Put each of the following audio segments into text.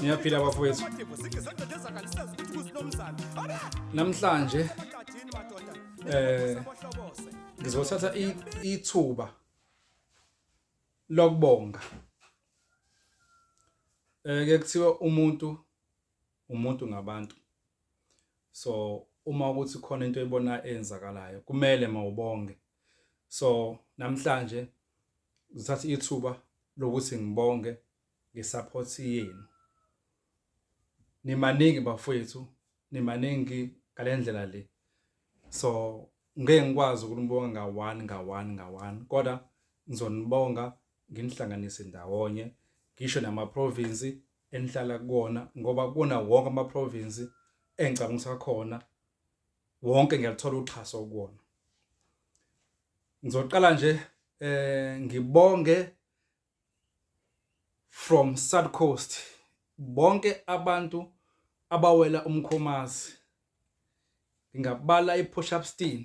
ngiyaphila bafowethu namhlanje eh ngizothatha ithuba lokubonga eh ke kuthiwa umuntu umuntu ngabantu so uma ukuthi khona into ebona eyenzakalayo kumele mawubonge so namhlanje ngithatha ithuba lokuthi ngibonge ngesupport yenu nimaningi bafowethu nimaningi ngalendlela le so ngeke ngikwazi ukunibonga ngawani ngawani ngawani kodwa ngizonibonga nginihlanganise ndawonye ngisho namaprovinsi enihlala kuwona ngoba kuna wonke amaprovinsi engicabangisa khona wonke ngiyaluthola uxhaso kuwona ngizoqala nje eh ngibonge from South Coast bonke abantu abawela umkhomazi ngingabala ipush up steam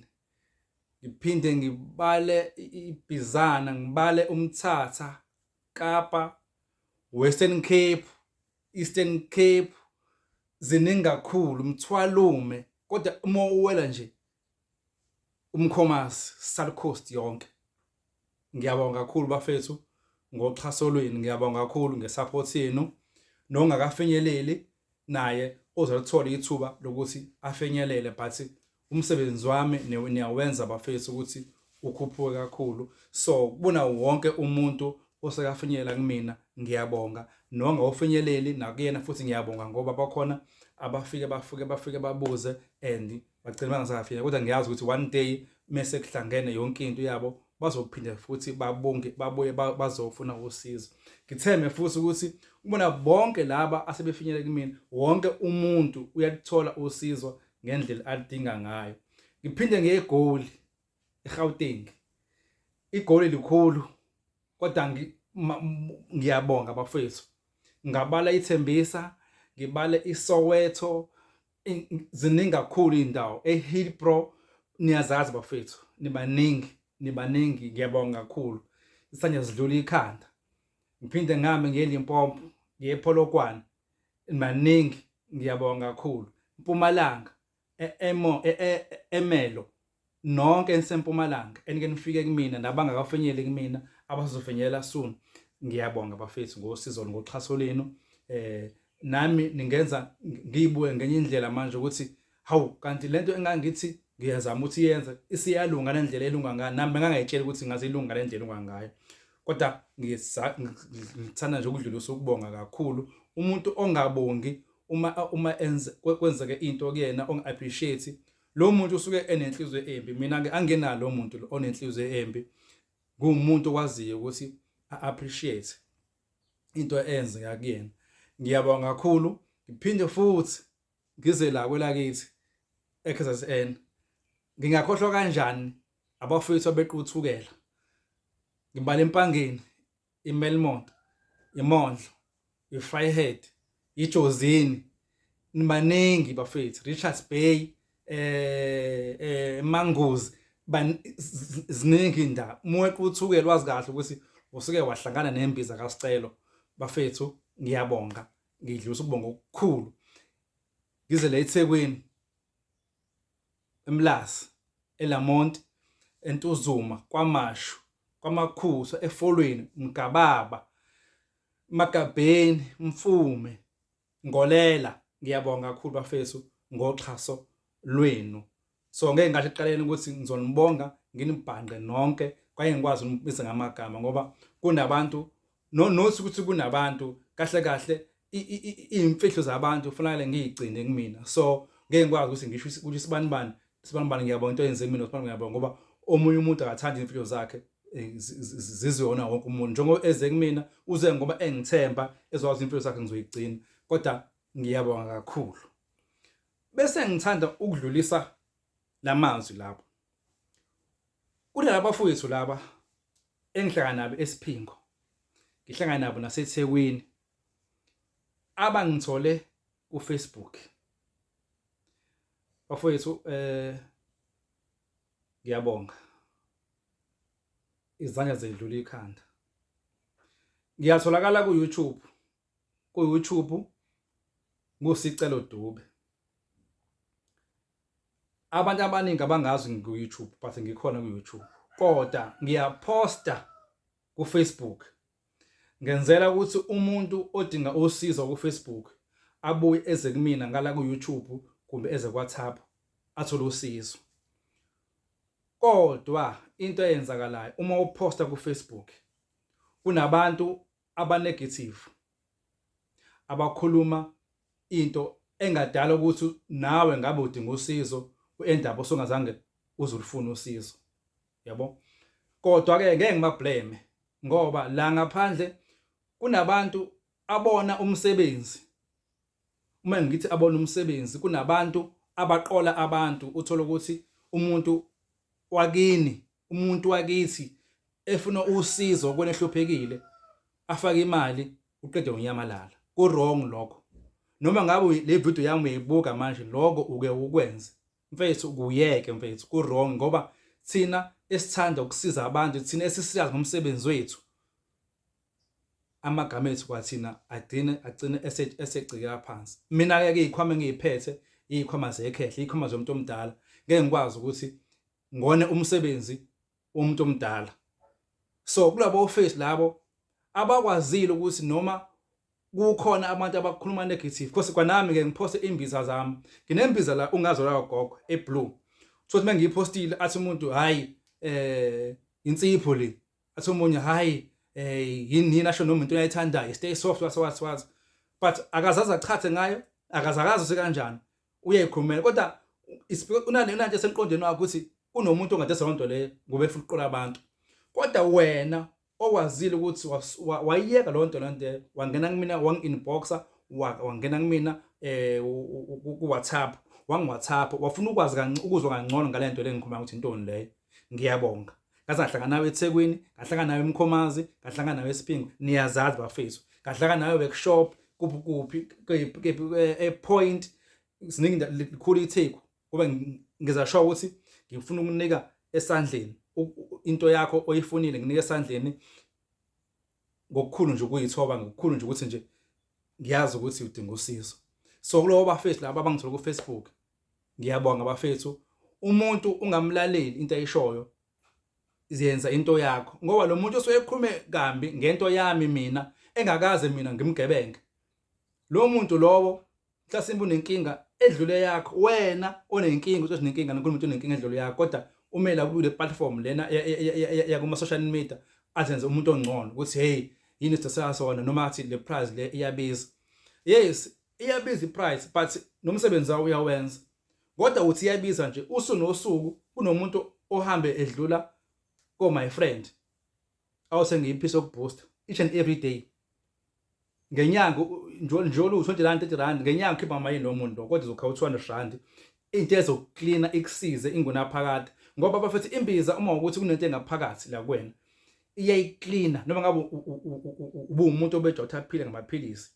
ngiphinde ngibale ibhizana ngibale umthatha Kapa Western Cape Eastern Cape ziningi kakhulu mthwalume kodwa uma uwela nje umkhomasi South Coast yonke ngiyabonga kakhulu bafethu ngoxhaso lwenu ngiyabonga kakhulu ngesupport yenu nongakafinyeleli naye ozalithola ithuba lokuthi afinyelele but umsebenzi wami niyawenza bafethu ukuthi ukhuphuke kakhulu so kubona wonke umuntu osekafinyelela kumina ngiyabonga nongawufinyeleli nakuyena futhi ngiyabonga ngoba bakhona abafike bafike bafike babuze and bagcina bangasafika kodwa ngiyazi ukuthi one day mese kuhlangene yonke into yabo bazophinde futhi babonge babuye bazofuna usizo ngitheme futhi ukuthi ubona bonke laba asebefinyele kumina wonke umuntu uyathola usizo ngendlela alidinga ngayo ngiphinde ngegoli eGauteng igoli likhulu kodwa ngiyabonga bafethu ngabala ithembisa ngibale iSoweto ziningi kakhulu indawo eHillbrow niyazazi bafethu nibaningi nibaningi ngiyabonga kakhulu isanje sidlula ikhanda ngiphinde ngame ngeLimpopo ngiye ePolokwane maningi ngiyabonga kakhulu mpumalanga emo e, e, e, emelo nonke enisempumalanga enike nifike kumina nabangakafinyeli kumina abazofinyela soon ngiyabonga bafethu ngosizo ngoxhaso lenu eh nami ningenza ngiyibuke ngenye indlela manje ukuthi hawu kanti lento engangithi ngiyazama ukuthi yenze isiyalunga le ndlela elunga ngayo nami bengangayitsheli ukuthi ngaze ilunga le ndlela elunga ngayo kodwa ngithanda nje ukudlulisa ukubonga kakhulu umuntu ongabongi uma uma enze kwenzeke into kuyena ongi-appreciate lo muntu usuke enenhliziyo embi mina-ke angenalo lo muntu onenhliziyo embi nguwumuntu owaziyo ukuthi a-appreciate into eyenzeka kuyena ngiyabonga kakhulu ngiphinde futhi ngize la kwelakithi eKZN ngingakhohlwa kanjani abafowethu abequthukela ngimbala empangeni iMelmont iMondlo iFryhead iJozini nibaningi bafethu Richards Bay eh eh Mangozi ziningi indaba mwequ uthuke lwazi kahle ukuthi usuke wahlangana nembiza kaScelo bafethu ngiyabonga ngidlulisa ukubonga okukhulu ngize la eThekwini eMlazi eLamont eNtuzuma kwaMashu kwaMakhusa eFolweni Mgababa Magabheni Mfume Ngolela ngiyabonga kakhulu bafethu ngoxhaso lwenu so ngeke ngasho ekuqaleni ukuthi ngizonibonga nginibhanqe nonke kwaye ngikwazi ukunibisa ngamagama ngoba kunabantu nonothi ukuthi kunabantu kahle kahle iy'mfihlo zabantu kufanele ngiyigcine kumina so ngeke ngikwazi ukuthi ngisho ukuthi sibani bani sibani bani ngiyabonga into yenze mina sibani ngiyabonga ngoba omunye umuntu akathandi iy'mfihlo zakhe eh, zizona wonke umuntu njengoba eze kumina uze ngoba engithemba ezokwazi iy'mfihlo zakhe ngizoyigcina kodwa ngiyabonga kakhulu Bese ngithanda ukudlulisa lamazwi lapho. Kunalaba fowethu laba engihlangana nabo esiphingo. Ngihlangana nabo naseThekwini. Abangithole kuFacebook. Bafowethu eh ngiyabonga. Izandla zedlula ikhanda. Ngiyatholakala ku-YouTube ku YouTube nguSicelo Dube abantu abaningi abangazi ngiku YouTube but ngikhona ku YouTube kodwa ngiyaposta ku Facebook ngenzela ukuthi umuntu odinga usizo ku Facebook abuye eze kumina ngala ku YouTube kumbe eze kwa WhatsApp athole usizo kodwa into eyenzakalayo uma uposta ku Facebook kunabantu abanegative abakhuluma into engadala ukuthi nawe ngabe udinga usizo endaba osungazange uzulifuna usizo yabo kodwa ke ngeke ngibablame ngoba la ngaphandle kunabantu abona umsebenzi uma ngithi abona umsebenzi kunabantu abaqola abantu uthola ukuthi umuntu wakini umuntu wakithi efuna usizo kwena ehluphekile afake imali uqede unyamalala ku wrong lokho noma ngabe le video yami uyibuka manje lokho uke ukwenze mfethu kuyeke mfethu ku wrong ngoba thina esithanda ukusiza abantu thina esisiyazi ngomsebenzi wethu amagama ethu kwathina agcine agcine esegcika phansi mina ke izikhwama engiyiphethe izikhwama zekhehle izikhwama zomuntu omdala ngeke ngikwazi ukuthi ngone umsebenzi womuntu omdala so kulabo office labo abakwazile ukuthi noma kukhona abantu abakhuluma negative because kwanami ke ngiphoste imbiza zami nginembiza la ungazo la gogo eblue so ukuthi mengiyipostile athi umuntu hayi eh insipho le athi omunye hayi eh yini yini asho noma into ayithandayo stay soft was was was but akazazi achathe ngayo akazakazi usekanjani uyayikhulumela kodwa unane unanje semqondweni wakho ukuthi kunomuntu ongade sonto le ngoba efuna ukuqola abantu kodwa wena owazile ukuthi wayiyeka lo nto lento wangena kumina wang inboxa wangena kumina eh ku WhatsApp wangi WhatsApp wafuna ukwazi kancane ukuzwa kangcono ngalento lengikhuluma ukuthi intoni leyo ngiyabonga ngaze ngahlangana nawe eThekwini ngahlangana nawe eMkhomazi ngahlangana nawe eSiphingo niyazazi bafethu ngahlangana nawe workshop kuphi kuphi ePoint siningi likhulu iTheku kube ngiza show ukuthi ngifuna ukunika esandleni into yakho oyifunile nginike esandleni ngokukhulu nje ukuyithoba ngokukhulu nje ukuthi nje ngiyazi ukuthi udinga usizo so kulowo bafethu laba abangithola ku-Facebook Ngiyabonga bafethu umuntu ungamlaleli into ayishoyo ziyenza into yakho ngoba lo muntu osuke ekhulume kambi ngento yami mina engakaze mina ngimgebenge lo muntu lowo mhlasimbe unenkinga edlule yakho wena onenkinga uthi unenkinga ngikhuluma ukuthi unenkinga edlule yakho kodwa umela kule platform lena ya kuma social media azenze umuntu ongcono ukuthi hey yini sithatha sona noma athi le prize le iyabiza yes iyabiza iprice but nomsebenzi wawo uyawenza kodwa uthi iyabiza nje usu nosuku kunomuntu ohambe edlula ko my friend awuse ngiyiphisa okubooster each and every day ngenyanga njolo u20 rand 30 rand ngenyanga ukhipha amayini lo muntu kodwa uzokha u200 rand into ezoklina ikusize ingona phakathi ngoba bafethi imbiza uma ukuthi kunento engaphakathi la kwena iyayiklina noma ngabe ubuwumuntu obejotha aphile ngamaphilisi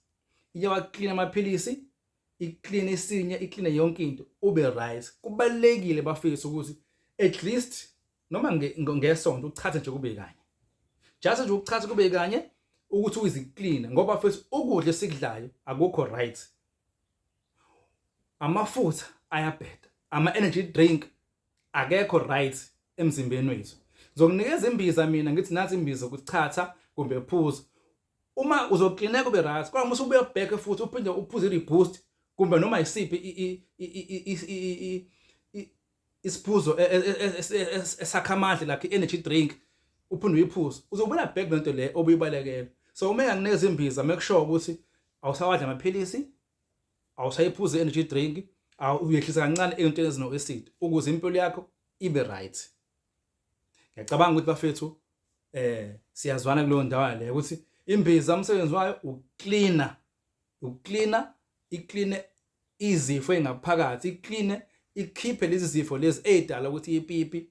iyawaklina amaphilisi ikline isinya ikline yonke into ube right kubalekile bafisa ukuthi at least noma ngesonto uchathe nje kube kanye just nje ukuchatha kube kanye ukuthi uyiziklina ngoba futhi ukudla esikudlayo akukho right amafutha ayabheda ama energy drink akekho right emzimbeni wethu ngizokunikeza imbiza mina ngithi nathi imbiza ukuchatha kumbe phuza uma uzoklineka ube right kodwa uma usubuya back futhi uphinde uphuze i-reboost kumbe noma yisiphi isiphuzo e, e, e, esakha amandla lakhe i-energy drink uphinde uyiphuze uzobuyela back le nto le obuyibalekela so uma engakuneza imbiza make sure ukuthi awusawadla amaphilisi awusayiphuze i-energy drink uyehlisa kancane ey'ntweni ezino-acid ukuze impilo yakho ibe right ngiyacabanga ukuthi bafethu eh siyazwana kuleyo ndawo le ukuthi imbiza umsebenzi wayo ukucleaner ukucleaner icleane izifo engaphakathi icleane ikhiphe lezi zifo lezi ezidala ukuthi ipipi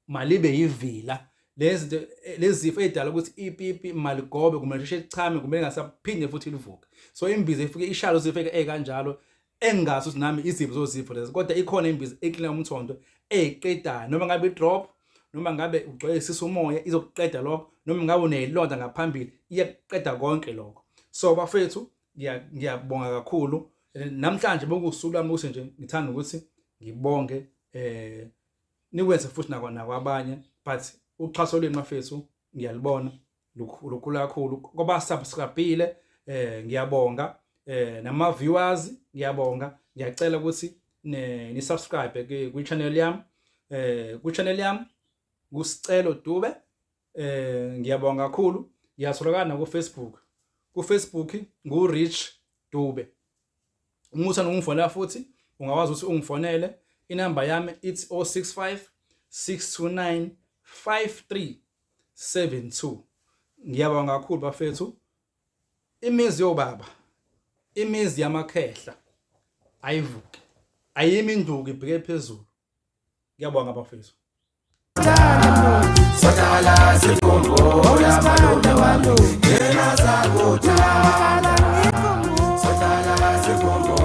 malibe yivila lezi lezi zifo ezidala ukuthi ipipi maligobe kumele sheshe lichame kumele ngasaphinde futhi livuke so imbiza ifike ishalo zifike ekanjalo engingazi ukuthi nami iziphi zozipho lezi kodwa ikhona imbiza eklina umthondo eyiqedayo noma ngabe i-drop noma ngabe ugcwele isisu umoya izokuqeda lokho noma ngabe uneyilonda ngaphambili iyakuqeda konke lokho so bafethu ngiyabonga kakhulu namhlanje bokusuku lami ukuthi nje ngithanda ukuthi ngibonge eh nikwenze futhi nakwa nakwabanye but uxhaso lwenu mafethu ngiyalibona lukhulu kakhulu koba subscribile eh ngiyabonga eh nama viewers ngiyabonga ngiyacela ukuthi ni subscribe kwi channel yami eh kwi channel yami kusicelo dube eh ngiyabonga kakhulu ngiyatholakala ku Facebook ku Facebook ngu Rich Dube uma uthanda ungifonela futhi ungakwazi ukuthi ungifonele inamba yami ithi 065 629 53 72 ngiyabonga kakhulu bafethu imizi yobaba imizi yamakhehla ayivuke ayimi induku ibheke phezulu ngiyabonga bafethu Sotala sifungo ya malume walo Yena zakutala Sotala sifungo